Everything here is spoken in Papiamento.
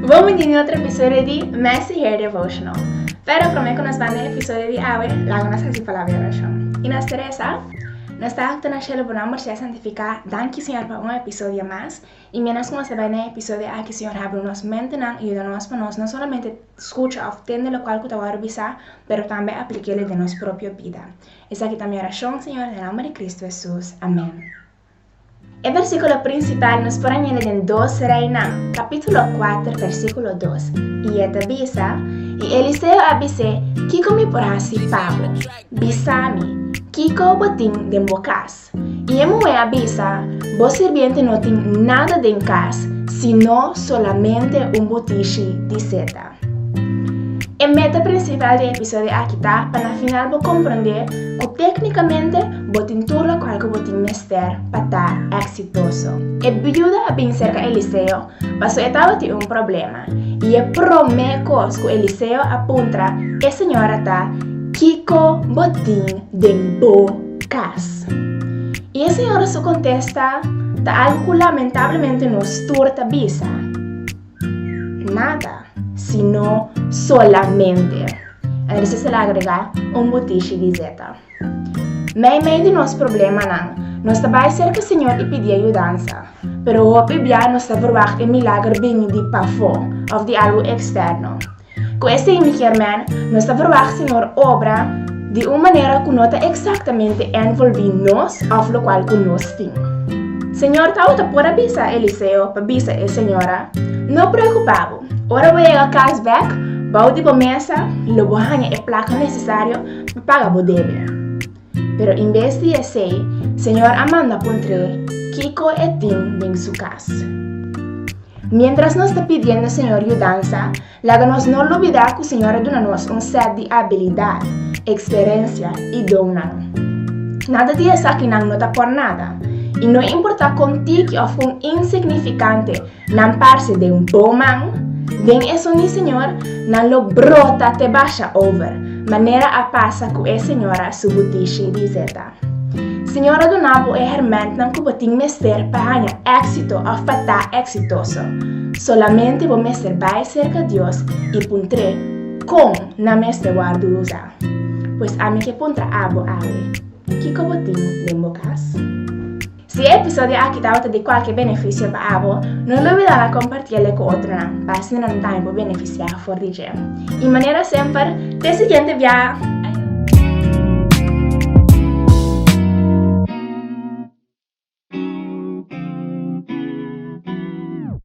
Bon bini na otro episodio di Mester Hear Devotional. Pero prome cu nos banda e episodio di awe, laga nos haci palabra di oracion. Y nos ta reza, Nos Tata cu ta na Cielo, Bo nomber sea santifica. Danki, Señor, pa un episodio mas. Y mientras cu nos ta bai na e episodio aki, Señor, habri nos mentenan y yuda nos pa nos no solamente scucha of tende locual cu ta worde bisa, pero tambe apliqu'e lo den nos propio bida. Esaki ta mi oracion, Señor, den nomber di Cristo Jesús. Amén. E versíkulo prinsipal nos por a ña na den Dos Reinan, kapítulo kuater, versíkulo dos, i e ta bisa, I Eliseo a bis'é, Kiko mi por hasi pa bo? Bisa mi, kiko bo tin den bo kas? I e muhé a bisa, Bo sirbiente no tin nada den kas, sino solamente un butishi di seta. E meta prinsipal di e episodio aki ta pa na final bo komprondé ku téknikamente bo tin tur lokual ku bo tin mester pa ta èksitoso. E biuda a bini serka Eliseo pasobra e tabatin un problema, i e promé kos ku Eliseo a puntra e señora ta, Kiko bo tin den bo kas? I e señora su kontesta ta algu ku lamentablemente nos tur ta bisa. Nada, sino solamente. Enrices el a agregá un butishi di zeta. Mei mei di nos problemanan, nos ta bai serka Señor i pidi ayudansa. Pero hopi bia nos ta verwagt e milager bini di pafó òf di algu eksterno. Ku e sey mikier men, nos ta verwagt Señor obra di un manera ku no ta eksaktamente ènvolbí nos òf lokual ku nos tin. Señor ta ota por a bisa Eliseo pa bisa e señora, No preokupá bo, ora bo yega kas bèk, bou di bo mesa lo bo haña e plaka nesesario pa paga bo debe. Pero inbes di esei, Señor a manda puntr'é kiko e tin den su kas. Miéntras nos ta pidiendo Señor yudansa, laga nos no lubidá ku Señor a duna nos un sèt di abilidat, eksperensia i donnan. Nada di esakinan no ta por nada, i no importá kon tiki òf kon insignifikante Nan parse den bo man. Den esun di Señor nan lo brota te basha over, manera a pasa cu e señora su butishi di zeta. Señor a duna bo e hermentnan cu bo tin mester pa haña exito of pa ta exitoso. Solamente bo mester bay cerca Dios y puntre, Con nan mester wardu uza? Pues ami ke puntra abo awe, Kico bo tin den bo cas? Si e episodio aki tabata di kualke benefisio pa abo, no lubida na kompartí el ku otronan, pa asina nan tambe por benefisiá for di dje. I manera semper, te siguiente biaha!